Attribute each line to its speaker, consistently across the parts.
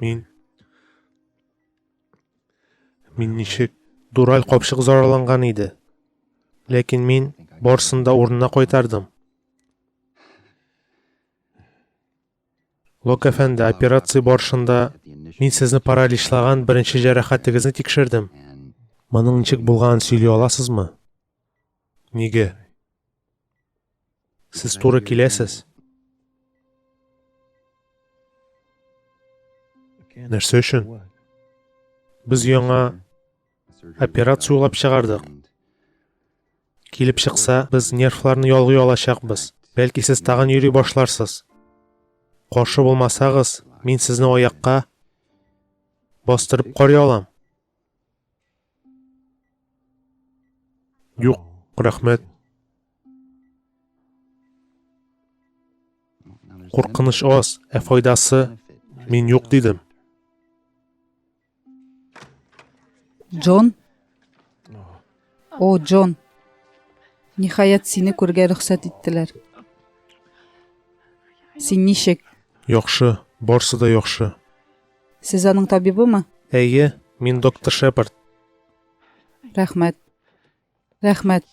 Speaker 1: Мин... Мин ничек... Дураль капшык зарарланган иде. Ләкин мин барсын да урынына кайтардым. Лок әфәнде, операция барышында мин сезне параличлаган беренче җәрәхәтегезне тикшердем. Моның ничек булганын сөйли аласызмы? Нигә? Сез туры киләсез. Нәрсә өчен? Без яңа операция уйлап чыгардык. Килеп чыкса, без нервларны ялгый алачакбыз. Бәлки сез тагын йөри башларсыз. Каршы булмасагыз, мин сезне аякка бастырып карый алам. Юк, рәхмәт. Куркыныч аз, ә файдасы мин юк дидем. Джон? О, Джон. Ниһаять сине күргә рөхсәт иттеләр. Син ничек? Яхшы, барсы да яхшы. Сез аның табибымы? Әйе, мин доктор Шепард. Рәхмәт. Рәхмәт.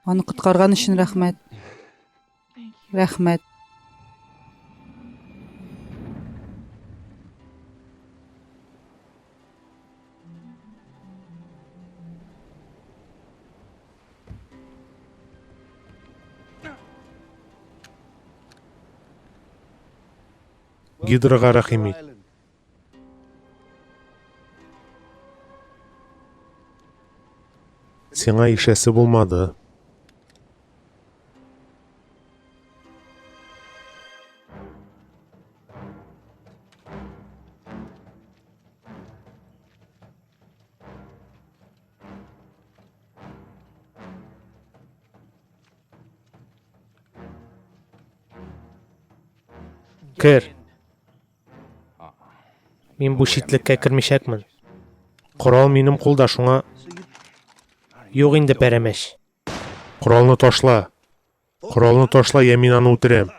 Speaker 1: Аны коткарган өчен рәхмәт. Рәхмәт. Гидрага рәхим ит. Сиңа ишәсе булмады. Кер. Мин бу читлеккә кермичәкмен. Корал минем кулда шуңа... Юк инде пәрәмәч. Коралны ташла. Коралны ташла, я мин аны үтерәм.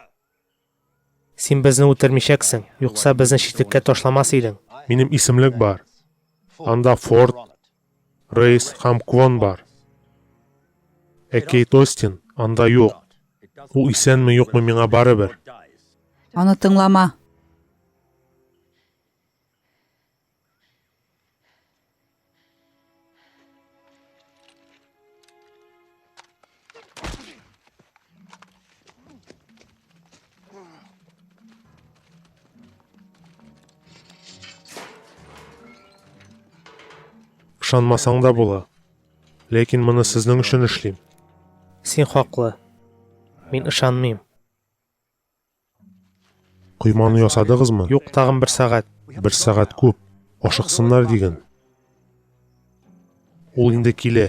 Speaker 1: Син безне үтермичәксең, юкса безне читлеккә ташламас идең. Минем исемлек бар. Анда Форд, Рейс һәм Квон бар. Ә Кейт Остин анда юк. Ул исәнме-юкмы миңа барыбер. Аны тыңлама. ышанмасаң да була ләкин моны сезнең өчен эшлим син хаклы мин ышанмыйм Койманы ясадыгызмы? Юк, тагын бер сәгать. Бер сәгать күп. Ашыксыннар диген. Ул инде килә.